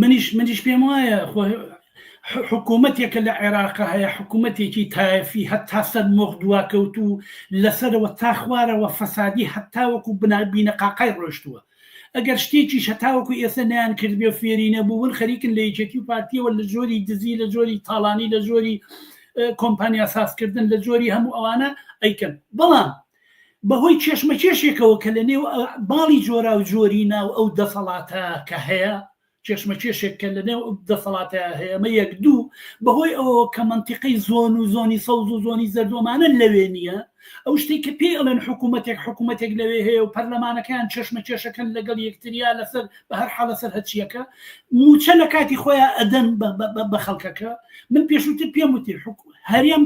منیش منیش پێم وایە خۆ حکوومەتێک کە لە عێراق هەیە حکوومەتێکی تایفی هەتا سەر مۆخ دواکەوت و لەسەرەوە تا خوارەوە فەسادی هەتاوەکو بنابینە قاقای ڕۆشتووە ئەگەر شتێکی شەتاوەکو ئێستا نیان کردێ و فێری نەبوون خەریکن لە یەکێتی و پارتیەوە لە جۆری دزی لە جۆری تاڵانی لە جۆری کۆمپانیا سازکردن لە جۆری هەموو ئەوانە ئەیکەن بەڵام بەهۆی کێشمەکێشێکەوە کە لە نێو باڵی جۆراوجۆری ناو ئەو دەسەڵاتە کە هەیە کێشمەکێشێک کە لە نێو دەسەڵاتە هەیەمە یەک دوو بەهۆی ئەوە کە منتیقەی زۆن و زۆنی سەوز و زۆنی زەردۆمانە لەوێ نییە ئەو شتێک کە پێی ئەڵێن حکوومەتێک حکوومەتێک لەوێ هەیە و پەرلەمانەکەیان چێشمە چێشەکەن لەگەڵ یەکتریا لەسەر بە هەر حاڵە سەر هەچیەکە موچە لە کاتی خۆیان ئەدەن بە خەڵکەکە من پێشووتر پێم وتی هەرێم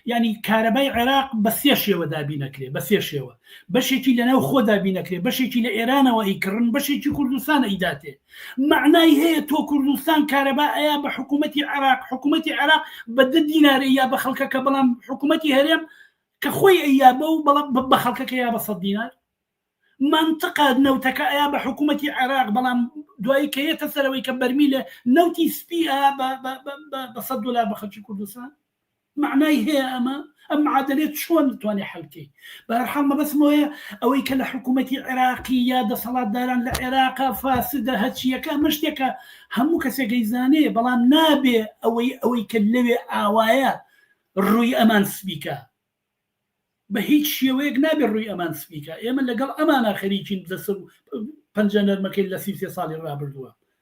یانی کارەبای عێراق بە سێ شێوە دابین ئەکرێ بە سێ شێوە بەشێکی لەناو خۆ دابین ئەکرێ بەشێکی لە ئێرانەوە ئەی کڕن بەشێکی کوردستان ئەیداتێ مەعنای هەیە تۆ کوردستان کارەبا ئەیا بە حکوومەتی عێراق حکوومەتی عێراق بە دە دینارە یا بە خەڵکەکە بەڵام حکوومەتی هەرێم کە خۆی ئەیابە و بەڵام بە خەڵکەکە یا بە سەد دینار مەنتقە نەوتەکە ئەیا بە حکومەتی عێراق بەڵام دوایی کە یەتە سەرەوەی کە بەرمیلە نەوتی سپی ئەیا بە سەد دۆلار بە خەلکی کوردستان معنای هەیە ئەمە ئەم معادلێت چۆن توانێ حلکەی بەرحاڵ مەبەسمۆیە ئەوەی کە لە حکوومەتی عێراقی یا دەسەڵاتداران لە عێراقا فاسدە هەچیەکە مەشتێکە هەموو کەسێکەی زانێ بەڵام نابێ ئەوەی ئەوەی کە لەوێ ئاوایە ڕووی ئەمان سبیکە بە هیچ شێوەیەک نابێت ڕووی ئەمان سپی کا، ئێمە لەگەڵ ئەمانا خەریکین دەست و پەنجە نەرمەکەین لە سی و سێ ساڵی ڕابردووە،